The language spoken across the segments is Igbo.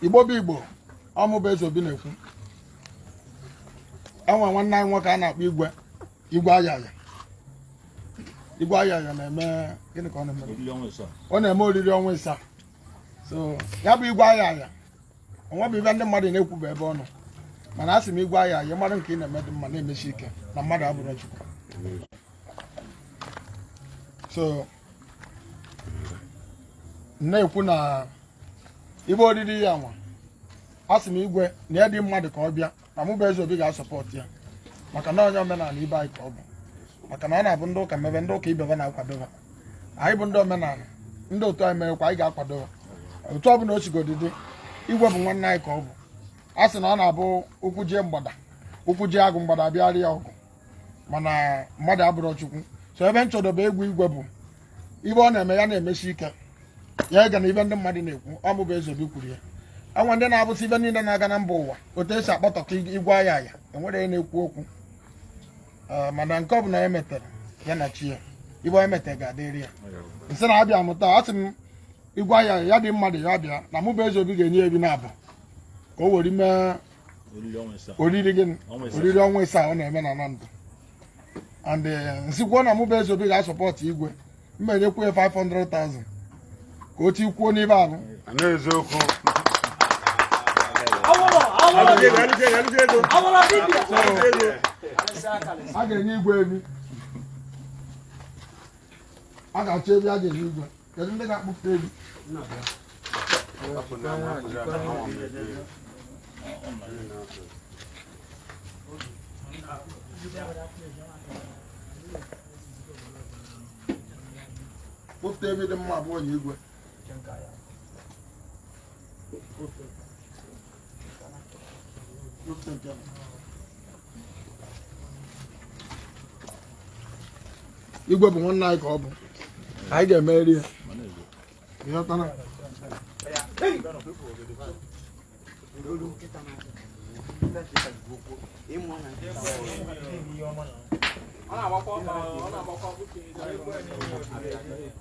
igbo bụ igbo ọ mụ bụ eze obi na-ekwu e nwe nwanne anyị nwoke a na-akpọ igwe igwe ayaya igwe ayaya na-eme gịnị ka ọ na-eme ọ na-eme oriri ọnwa ịsaa so ya bụ igwe ayaya o nwebe ife ndị mmadụ na-ekwu bụ ebe ọ nọ mana a sị m igwe ayaya mmadụ nke ị na-eme dị mma na-emesi ike na mmadụ abụrọ chukwu so na-ekwu na ibe odidi ya nwa a sị m igwe na ya dị mmadụ ka ọ bịa na mụ bụ eze obi ga-asọpọtụ ya maka na onye omenala ibe anyị ka ọ bụ maka na ọ na-abụ ndị ụka mebe ndị ụka ibe fa na-akwadoba anyị bụ ndị omenala ndị otu anyị merekwa anyị ga-akwadoba otu ọ bụla o sigodi dị igwe bụ nwanne anyị ka ọ bụ a sị na ọ na-abụ ụkwụ jie mgbada ụkwụ jie agụ mgbada abịara ya ọgụ mana mmadụ abụrọ chukwu so ebe m chọdobe egwu igwe bụ ife ọ na-eme ya na-emesi ike ya egena ife ndị mmadụ na-ekwu ọ mụ bụ eze obi kwuru ya e nwe ndị na-afụsị ife niile na-aga na mba ụwa otu e si akpọtọta igwe ayaya e were ya na-ekwu okwu eh, mana nke ọ bụla e metere ya na chi ya ife onye metere ga-adịrị ya m sị na a bịa mụta a sị m igwe ayaya dị mmadụ ya bịa na mụ bụ eze obi ga-enye efi naabọ ka o were mee oriri gịnị oriri ọnwa ịsaa ọ na-eme na Anambra and eh, m sịkwuo na mụ bụ eze obi ga-asọpọtụ igwe mma enyekwu ya 500,000 ka o tikwuo n'ife ahụ n'eziokwu a ga-enye igwe efi a ga-achọ efi a ga-enye igwe Kedu ndị ga-akpụpụta efi? Kpụpụta efi dị mma abụọ nye igwe. igwe bụ nwanne anyị ka ọ bụ anyị ga-emeri ya ịghọtara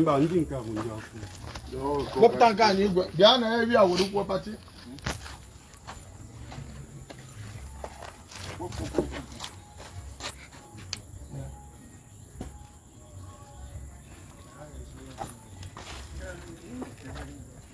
mba ndị nke bụ ndị ọkụ kpọpụta nke anyị igwe bịa nee efi e were kwuo pati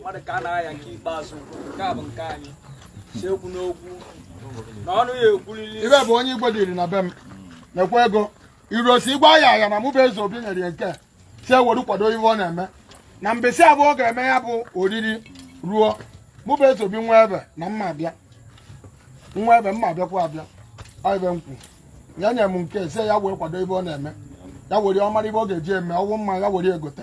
mmadụ ka a na-aya nke ikpeazụ nke a bụ nke anyị si okwu n'okwu na ọnụ ya ekwulili ibe bụ onye igbo diri na be m na-ekwe ego irosi Igwe Ayaya na mụ bụ Ezeobi nyere ya nke si ewere kwado ihe ọ na-eme na mbọsị ahụ ọ ga-eme ya bụ oriri ruo mụ bụ Ezeobi nwee ife na m ma abịa nwee ife m ma abịakwa abịa ọ ibe m kwu ya nye m nke si ya wee kwado ihe ọ na-eme ya were ọ mara ife ọ ga-eji eme ọ wụ mmanya were egote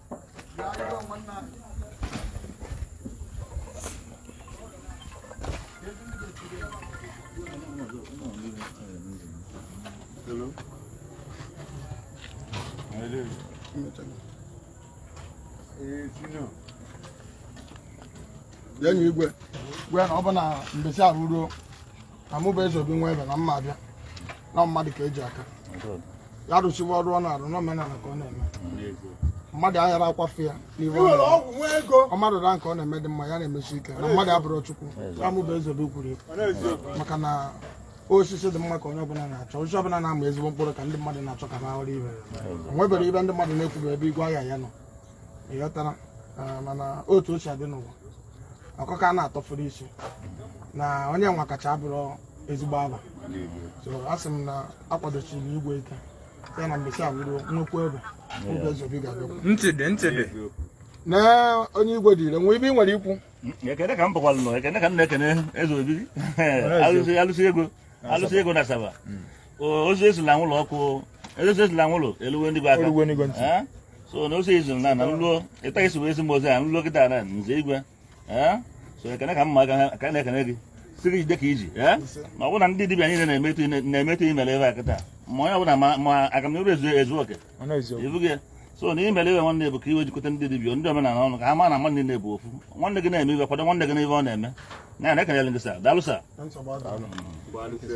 bịa nye Igwe gwa ya na ọ bụrụ na mbọsị ahụ ruo a mụ bụ Ezeobi nwee ife na m ma abịa na mmadụ ka eji aka ya rụchiwa ọrụ ọ na-arụ n'omenala ka ọ na-eme mmadụ aghara akwafe ya n'ihe ọ na-eme. ọ bụ nwa ego ọ mmadụ na nke ọ na-eme dị mma ya na-emesi ike na mmadụ abụrọ Chukwu ya ọ mụ bụ Ezeobi kwuru ya. maka na osisi dị mma ka onye ọbụla na-achọ osisi ọbụla na-ama ezigbo mkpụrụ ka ndị mmadụ na-achọ ka ha hụrụ ibe ya. o nwere ife ndị mmadụ na-ekwube ebe Igwe Ayaya nọ ịghọtara ah, mana otu ochie adị n'ụwa ọkụkọ a na-atọfuru isi na onye nwekacha abụrọ ezigbo aba so a sị m na akwadochiri igwe ike ya na mbọsị ahụ ruo nnukwu ebe oge Ezeobi ga-abịakwu ntị dị ntị dị na onye igwe dịịrị nwee ife ị nwere ikwu ekene ka m bụkwalụ nọ ekene ka m na-ekene Ezeobi alụsị alụsị ego alụsị ego n'Asaba O- ozi esila ụlọ ọkụ ezesila nwụrụ eluwe ndị gwa aka Eluwe ndị gwa ntị. Eh? so na ozi i ziri na na nluo kịta i si wee ezi m ozi a nluo kịta na nze igwe Eh? so ekene ka mma aka ka na-ekene gị sị gị jide ka i ji Eh? na ọ bụrụ na ndị dibịa niile na-eme etu i ne- na-eme etu i mere ebe a kịta ma onye ọbụla ma- ma aga m n'iru ezi ezi okwu Ọ nọ eziokwu. ibu gị so na i mere ife nwanne bụ ka i wee jikọta ndị dibịa ndị omenala ọnụ ka ha ma na mmadụ niile bụ ofu nwanne gị na-eme ife kwado nwanne gị n'ihe ọ na-eme na ya na ekenere gị sir daalụ sir Nsogbu adịghị.